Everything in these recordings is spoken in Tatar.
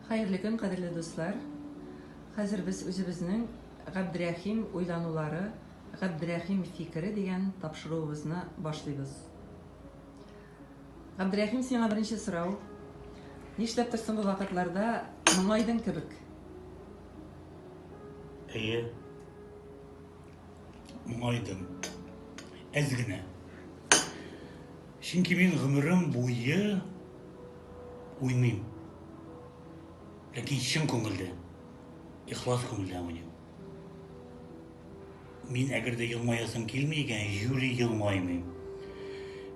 Хәерле көн, кадерле дуслар! Хәзер без үзебезнең Габдрәхим уйланулары, Габдрәхим фикере дигән тапшыруыбызны башлыйбыз. Габдрәхим, сиңа беренче сорау. Нишләптер соңгы вакытларда моңайдың кебек? Әйе. моңайдым. Әз генә. Чөнки мин гомерем буе уйныйм. Ләкин чын күңелдә, ихлас күңелдә уйныйм. Мин әгәр дә елмаясым килми икән, юри елмаймыйм.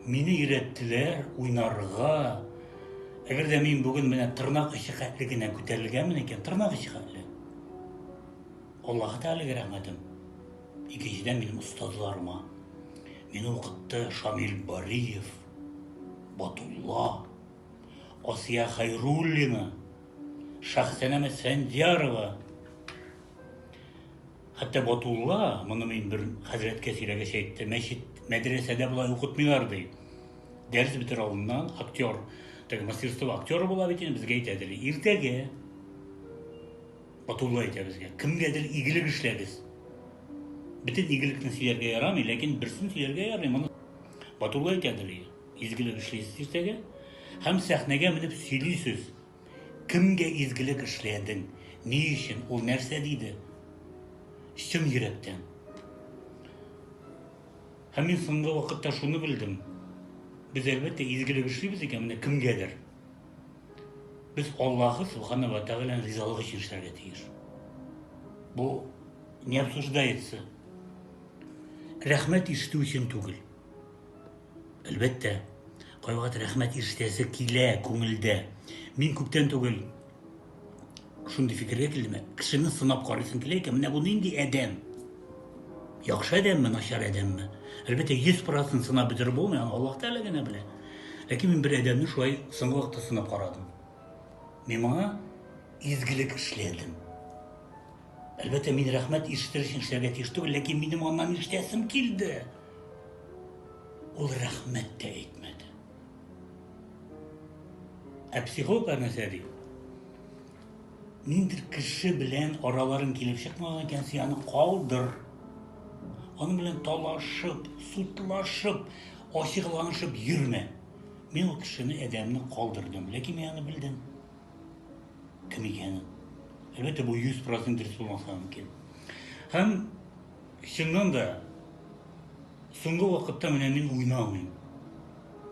Мине өйрәттеләр уйнарга. Әгәр дә мин бүген менә тырнак очы хәтле генә күтәрелгәнмен икән, тырнак очы хәтле. Аллаһы Тәгаләгә рәхмәтем, икенчедән минем остазларыма. Мине укытты Шамил Бариев, Батулла, Асия Хайруллина, Шәхсәнәм Әсфәндиярова. Хәтта Батулла, моны мин бер хәзрәткә сөйләгәч әйтте, мәчет, мәдрәсәдә болай укытмыйлар ди. Дәрес бетер алдыннан актер, теге мастерство актеры була бит инде, безгә әйтәдер. Иртәгә Батулла әйтә безгә, кемгәдер игелек эшләгез. Бөтен игелекне сөйләргә ярамый, ләкин берсен сөйләргә ярый. Моны Батулла әйтә дөрие. Изгелек эшлисез иртәгә һәм сәхнәгә менеп сөйлисез. Кемгә изгелек эшләдең? Ни өчен? Ул нәрсә диде? Чын йөрәктән. Һәм мин соңгы вакытта шуны белдем. Без әлбәттә изгелек эшлибез икән, менә кемгәдер. Без Аллаһы Субхана ва Тәгаләнең ризалыгы өчен эшләргә тиеш. Бу не обсуждается. Рәхмәт ишетү өчен түгел. Әлбәттә, кайвакыт рәхмәт ишетәсе килә күңелдә. Мин күптән түгел шундый фикергә килдем кешене сынап карыйсың килә икән менә бу нинди адәм яхшы адәмме начар адәмме әлбәттә йөз процент сынап бетереп булмый аны аллаһ тәғәлә генә белә ләкин мин бер адәмне шулай соңгы вакытта сынап карадым мин моңа изгелек эшләдем әлбәттә мин рәхмәт ишетер өчен эшләргә тиеш түгел ләкин минем аннан ишетәсем килде ул рәхмәт тә әйтмәде Ә психолог нәрсә ди? Ниндидер кеше белән араларың килеп чыкмаган икән, син аны калдыр. Аның белән талашып, сутлашып, ачыкланышып йөрмә. Мин ул кешене әдәмне калдырдым, ләкин мин аны белдем. Кем икәнен. Әлбәттә, бу 100% дөрес булмаса мөмкин. Һәм Чыннан да, соңгы вакытта менә мин уйнамыйм.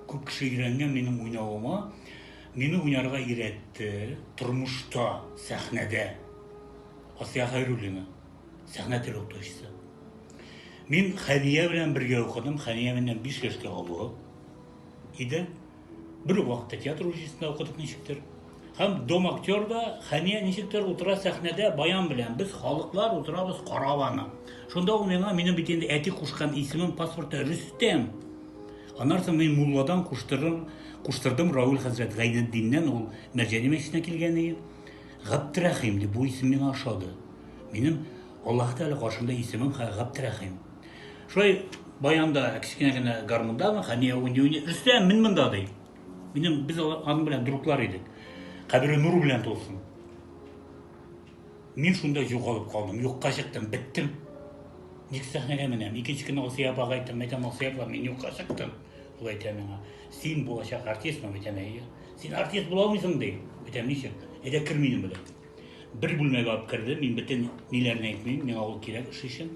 Күп кеше өйрәнгән минем уйнавыма. Мине уйнарга өйрәтте тормышта, сәхнәдә. Асия Хайруллина, сәхнә теле укытучысы. Мин Хәния белән бергә укыдым. Хәния миннән 5 яшькә олы иде. Бер үк вакытта театр училищесында укыдык ничектер. Һәм Дом актерда Хәния ничектер утыра сәхнәдә баян белән. Без халыклар утырабыз карап аны. Шунда ул миңа, минем бит инде әти кушкан исемем паспортта Рөстәм. Аннан соң мин мулладан куштырдым, куштырдым Рауль хәзрәт Гайнетдиннән ул Мәрҗани мәчетенә килгән иде. Габдрәхим дип бу исем миңа ошады. Минем Аллаһы Тәгалә каршында исемем Габдрәхим. Шулай баянда кечкенә генә гармундамы, Хәния уйный-уйный, Рөстәм, мин монда, ди. Минем, без аның белән друглар идек. Кабере нур белән тулсын. Мин шунда югалып калдым, юкка чыктым, биттем. Ник сәхнәгә менәм? Икенче көнне Асия апага әйттем, әйтәм, Асия апа, мин юкка чыктым. Ул әйтә миңа, син булачак артистмы? Әйтәм, әйе. Син артист була алмыйсың, ди. Әйтәм, ничек? Әйдә кер минем белән. Бер бүлмәгә алып керде, мин бөтен ниләрен әйтмим, миңа ул кирәк эш өчен.